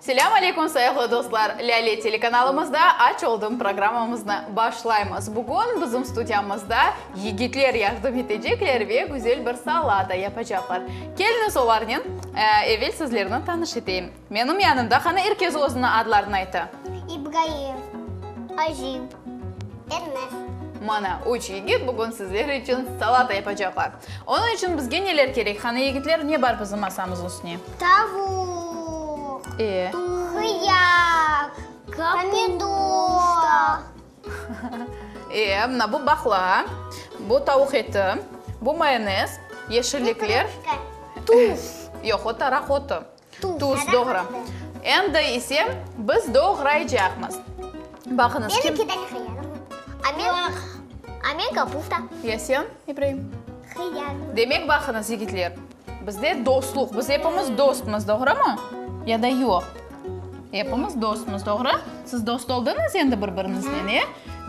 Selâm aleyküm, sayıqlı dostlar! Lâle telekanalımızda Aç oldım programmamıznı başlaymız. Bugün bizim studiyamızda yigitler yardım etecekler ve güzel bir salata yapacaqlar. Keliñiz olarnen, evel sizlerni tanış eteyim. Menim yanımda, qani, er kes özüni adlarını ayta. İbraim, Azim, Ermez. Mana, üç yigit bugün sizler içün salata yapacaqlar. Onıñ içün bizge neler kerek? Qani, yigitler, ne bar bizim masamız üstüne? Tavuq. E? Hıyar. Pomidor. E, mına bu baqla, bu tavuq eti, bu mayonez, yeşillikler. Tuz. Yoq, o taraq otu. Tuz, doğru. Endi ise biz doğraycaqmız. Baqıñız, kim? Benimki de hıyar. A men kapusta. Ya sen, İbraim? Hıyar. Demek, baqıñız, yigitler, bizde dostluq, biz epimiz dostmız, doğrumı? Ya da yoq? Epimiz dostmız, doğru? Siz dost oldıñız endi bir-biriñiznen, e?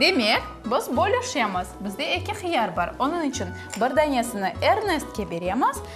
Demek, biz bölüşemiz. Bizde eki hıyar bar. Onıñ içün bir danesini Ernestke beremiz,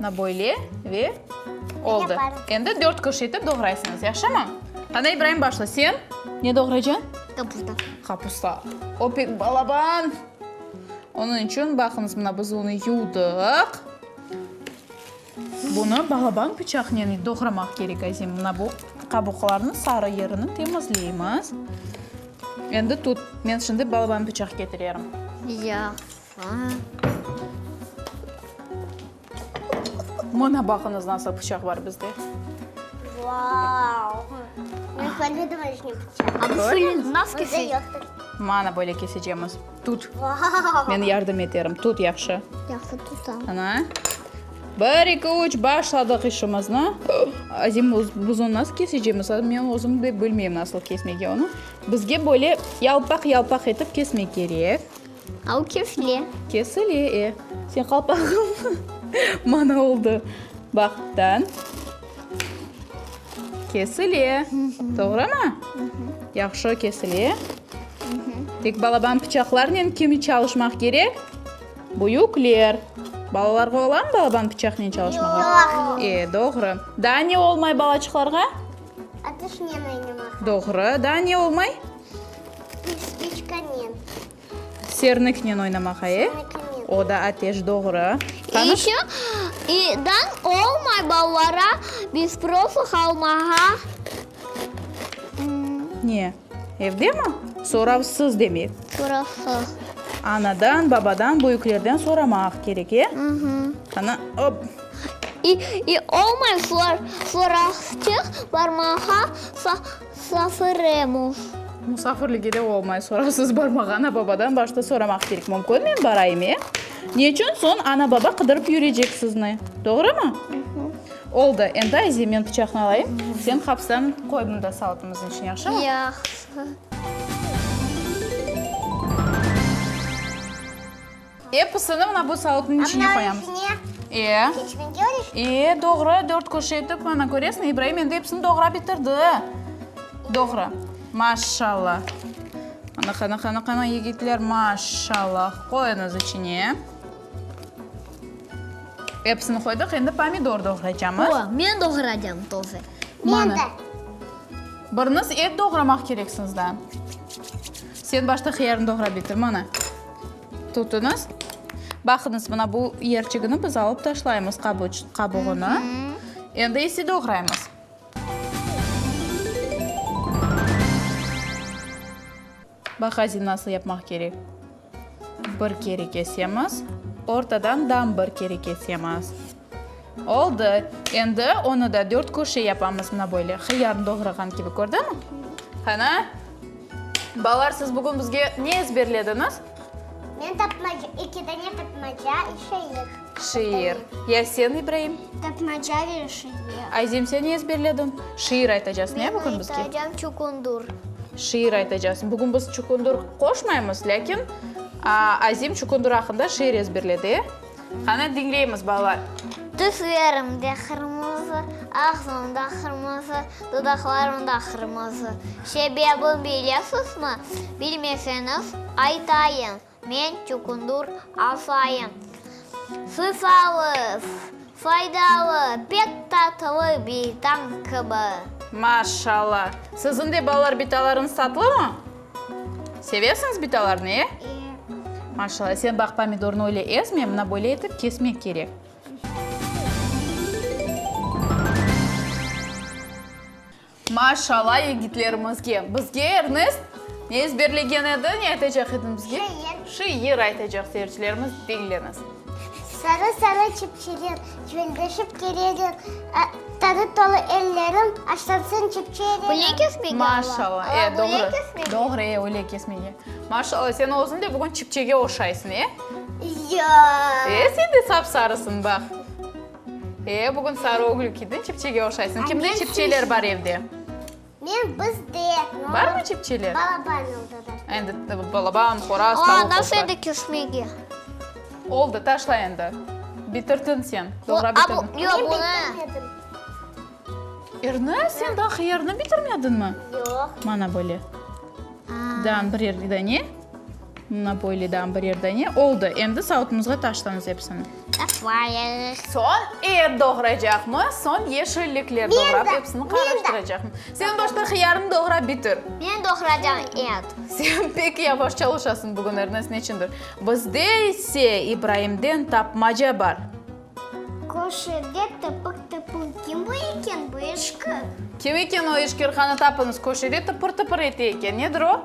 Mına böyle ve oldı. Endi dört kış etip doğraysıñız, yahşımı? Qanday, İbraim, başla sen. Ne doğrayacañ? Kapusta. Kapusta. Opik balaban! Onıñ içün, baqıñız, mına biz onı yuvdıq. Bunı balaban pıçaqnen doğramaq kerek, azim. Mına bu qabuqlarnıñ sarı yerini temizleymiz. Endi tut, men şimdi balaban pıçaq ketirerim. Yoq. Mına baqıñız, nasıl pıçaq bar bizde. Vau! Men körmedim öyle pıçaq. Mana böyle kesecemiz. Tut. Men yardım eterim. Tut yahşı. Yahşı tutam. Ana. Bir, iki, üç, başladıq işimizni. Azim buzun nasıl kesecemiz? Men özüm de bilmeyim nasıl kesmege onu. Bizge böyle yalpaq-yalpaq etip kesmek kerek. Au kefile. Kesile, e. Señ qalpağıñ mana oldı. Baq, dan. Kesile. Toğrımı? Yahşı kesile. Tek balaban pıçaqlarnen kimi çalışmaq kerek? Büyükler. Balalarğa olamı balaban pıçaqnen çalışmağa? Yoq. E, doğru. Daa ne olmay balaçıqlarğa? Atışnen oynamaq. Doğru. Daa ne olmay? Spiçkanen. Serniknen oynamaq, ae? Serniknen. O da ateş, doğru. İ işo i dan olmay ballara biz profi qalmağa. Ne? Evdemi? Soravsız demek. Soravsız. Anadan, babadan, büyüklerden soramaq kerek, e? Qana, op. İ i olmay soravsçıq barmağa. Safiremov. Musafirligi de olmay, sorasız barmaq. Ana-babadan başta soramaq kerek. Mümkün, men barayım, e? Ne içün soñ ana-baba qıdırıp yürecek sizni? Doğrumı? Oldı, endi Aziye, men pıçaqnı alayım, sen hapstan qoy mında salatamıznıñ içine, yahşımı? Yahşı. Episini mına bu savutnıñ içine qoyamız. Eee, doğru, dört köşe etip, ana, köresiñ, İbraim endi episini doğrap bitirdi. Doğru. Maşallah. Ana, qana, qana, qana, yigitler, maşallah. Qoyuñız içine. Episini qoydıq, endi pomidor doğraycamız. O, men doğraycam toze. Men de. Biriniz et doğramaq kereksiñiz da. Sen başta qıyarnı doğrap bitir, mana. Tutuñız. Baqıñız, mına bu yerçigini biz alıp taşlaymız qabuğını. Endi ise doğraymız. Bax, azim nasıl yapmaq kerek. Bir kere kesemiz. Ortadan dam bir kere kesemiz. Oldu. Endi onı da dört küşe yapamız, mına böyle. Hıyarnı doğrağan kibi, kördüñ? Qana. Balalar, siz bugün bizge ne ezberlediñiz? Men tapmaca, eki dane tapmaca ve şiir. Şiir. Ya sen, İbraim? Tapmaca ve şiir. Azim, sen ne ezberlediñ? Şiir aytacaqsıñ, ya, bugün bizge? Men aytacam Çukundur. Şiir aytacaqsıñ. Bugün biz Çukundur qoşmaymız, lâkin Azim Çukundur aqqında şiir ezberledi, e? Qana, diñleymiz, balalar. Tüslerimde qırmızı, ağzım da qırmızı, dudaqlarım da qırmızı. Sebebin bilesizmi? Bilmeseñiz, aytayım, men çukundur asayım. Sıysalız, faydalı, pek tatlı bir tañ kibi. Maşallah! Siziñ de balalar bitalarıñız tatlımı? Sevesiñiz bitalarnı, e? İyi. Maşallah. Sen baq, pomidornı öyle ezme, mına böyle etip kesmek kerek. Maşallah yigitlerimizge. Bizge Ernest ne ezberlegen edi, ne aytacaq ediñ bizge? Şiir. Şiir aytacaq seyircilerimiz, diñleñiz. Sarı-sarı çipçiler, cüveldeşip kereler, Tarı tolu ellerim, aşlansın çipçi ereler. Üle kesmege ala. Maşallah, e, doğru. Üle kesmege. Doğru, e, üle kesmege. Maşallah, sen özün de bugün çipçege oşaysın, e? Yoq. E, sen de sap-sarısın, bax. E, bugün sarı ögül kiydin, çipçege oşaysın. Kimde çipçeler bar evde? Men, biz de. Barmı cipçeler? Balaban oldı da. Endi balaban, qoraz, tavuk olsa. O, nasıl endi küsmege? Oldı, taşla endi. Bitirdin sen. Doğra bitirdin. Yoq, bunı. Men bitirmedim. Erni? Sen daha hıyarnı bitirmedinmi? Yoq. Mana böyle. Dağın bir yerden ye. Mana böyleden bir yerden ye. Oldı, endi savutımızğa taşlamız hepsini. Tapmayıq. Soñ et doğraycaqmı, soñ yeşillikler doğrap epsini qarıştıracaqmı? Sen başta hıyarnı doğrap bitir. Men doğraycam et. Sen pek yavaş çalışasıñ bugün, Ernest, neçündir. Bizde ise İbraimden tapmaca bar. Köşede tıpır-tıpır kim bu eken, bu eşkır? Kim eken o eşkır, qanı tapıñız. Köşede tıpır-tıpır eti eken, nedir o?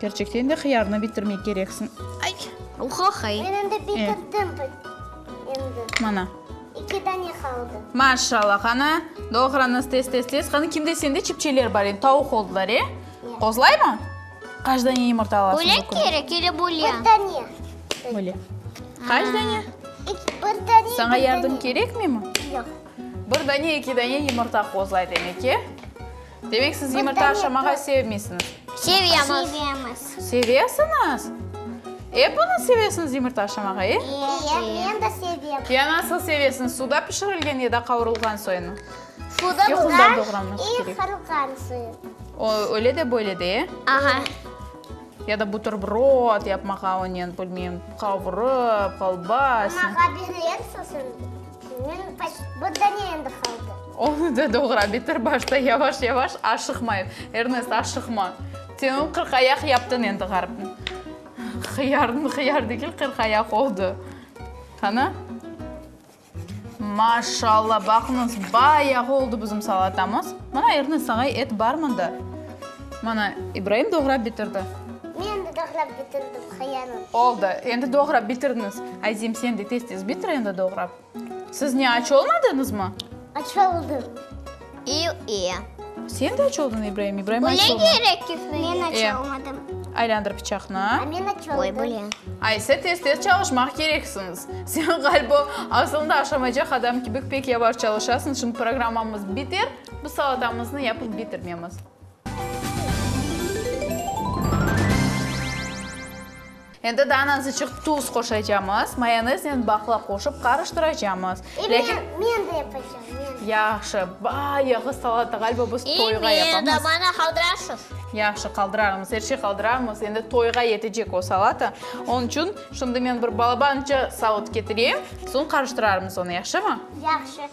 Kerçekten de hıyarnı bitirmek kereksiñ. Uhohoy. Men endi bitirdim endi. Mana. İki dane qaldı. Maşallah, qanı doğrañız tez tez tez. Qanı kimde sende çipçeler bar endi, tavuq oldılar, e? Qozlaymı? Qaç dane yumurta alasıñ bu künde? Bölek kerek ele bulya? Bir dane. Böyle. Qaç dane? Bir dane. Saña yardım kerekmemi? Yoq. Bir dane, eki dane yumurta qozlay demek, e? Demek, siz yımırta aşamağa sevmeysiñiz? Sevemiz. Sevemiz. Sevesiñiz? Epiniz sevesiñiz yımırta aşamağa, e? İye, men de sevem. Ya nasıl sevesiñiz, suda pişirilgen ya da qavurılğan soyunmı? Suda Yoğundan doğranması i kerek. qavurılğan soyun. O, öyle de, böyle de, e? Aha. Ya da buterbrod yapmağa onen, bilmeyim, qavurıp, kolbasa. Mağa berersiz indi. Bilmirem, paşt, bunda ne endi qaldı? Onı da doğra bitir başta, yavaş-yavaş, aşıqmay. Ernest, aşıqma. Sen onı qırqayaq yaptıñ endi, ğaripni. Hıyarnı hıyar degil, qırqayaq oldı. Qana. Maşallah, baqıñız, bayağı oldı bizim salatamız. Mana, Ernest, saña et bar mında. Mana, İbraim doğrap bitirdi. Men de doğrap bitirdim. Qıyanım. Oldı, endi doğrap bitiriniz. Azim, sen de tez-tez bitir endi doğrap. Siz ne, aç olmadıñızmı? Aç oldım. İu, i. Sen de aç oldın, İbraim? İbraim aç olmadı. Böyle gerek ki. Men aç E. olmadım. Aylandır bıçaqnı. A men aç oldum. Oy, böyle. Ay, siz tez-tez çalışmaq kereksiñiz. Sen, ğaliba, asılında aşamaycaq adam kibi pek yavaş çalışasıñ, şimdi programmamız biter, biz salatamıznı yapıp bitirmemiz. Endi daa nazıçıq tuz qoşacamız. Mayoneznen baqla qoşıp qarıştıracamız. E, men, men de yapacam, men de. Yahşı, bayağı salata, ğaliba biz toyğa yapamız. E, men de, bana qaldırarsız. Yahşı, qaldırarmız, er şey qaldırarmız. Endi toyğa yetecek o salata. Onıñ içün, şimdi men bir balabanca savut ketireyim, soñ qarıştırarmız onı, yahşımı? Yahşı.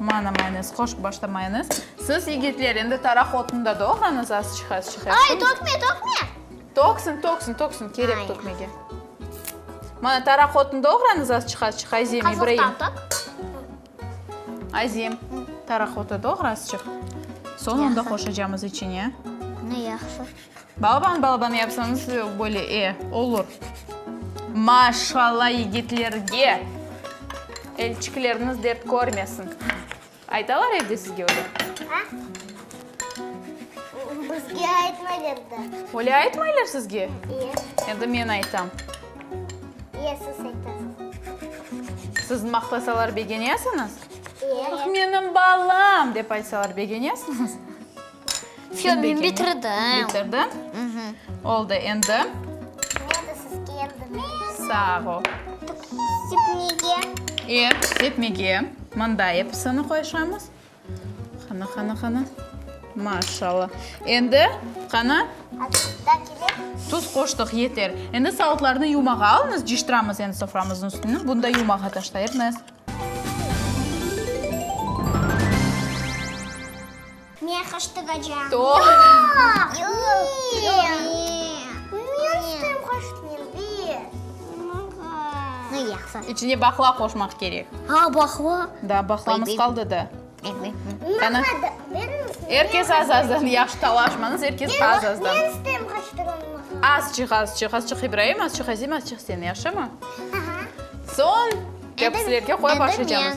Mana mayonez, qoşıp başlamayıñız. Siz, yigitler, endi taraq otunda doğrañız, az çıqa, az çıqa. Ay, tökme, tökme! Töksün, töksün, töksün, kerek tökmege. Mana taraq otun doğrañız, az çıqa, az çıqa, Azem, İbraim. Qazoqtan tökip. Azem, taraq otu doğra, az çıqa. Soñ onda qoşacamız içine. Ne yahsı. Balaban, balaban yapsanız böyle e, olur. Maşalla yigitlerge! Elçikleriniz dert körmesin. Aytalar evde sizge öyle? A? Bizge aytmaylar da. Öyle aytmaylar sizge? E. Endi men aytam. E, siz aytasız. Siz maqtasalar begenesiñiz? E. Menim balam! dep aytsalar begenesiñiz? Fyo, men bitirdim. Bitirdin? Oldı endi. Sağ ol. Sepmege. E, sepmege. Mında episini qoyşamız. Qana, qana, qana. Maşallah. Endi qana. Tuz qoştıq, yeter. Endi salıqlarnı yumağa alınız, ciştiramız endi soframıznıñ üstüni. Bunı da yumağa taşlayırmız. Men qış tıgacam. Yoq! Yoq! Men istem qış. Mı yaqsa. İçine bahla qoşmaq kerek. A, bahla? Da, bahlamız qaldı da. Er kes az-azdan, yahşı talaşmañız, er kes az-azdan. Men istem qış tıgam. Azçıq, azçıq, azçıq İbraim, azçıq Azim, azçıq sen, yahşımı? Soñ, kapuslerge qoya başlaycamız.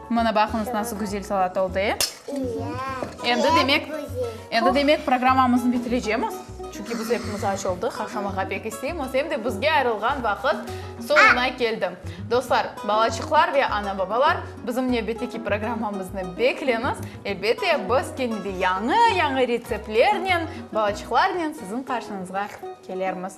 Mına baqıñız, nasıl güzel salat oldı, e? Endi demek, endi demek programmamıznı bitirecemiz. Çünki biz epimiz aç oldıq, qaşlamağa pek isteymiz, em de bizge ayırılğan vaqıt soñuna keldi. Dostlar, balaçıqlar ve ana-babalar, bizim nevbetteki programmamıznı bekleñiz. Elbette, biz kene de yañı-yañı retseptlernen, balaçıqlarnen siziñ qarşıñızğa kelermiz.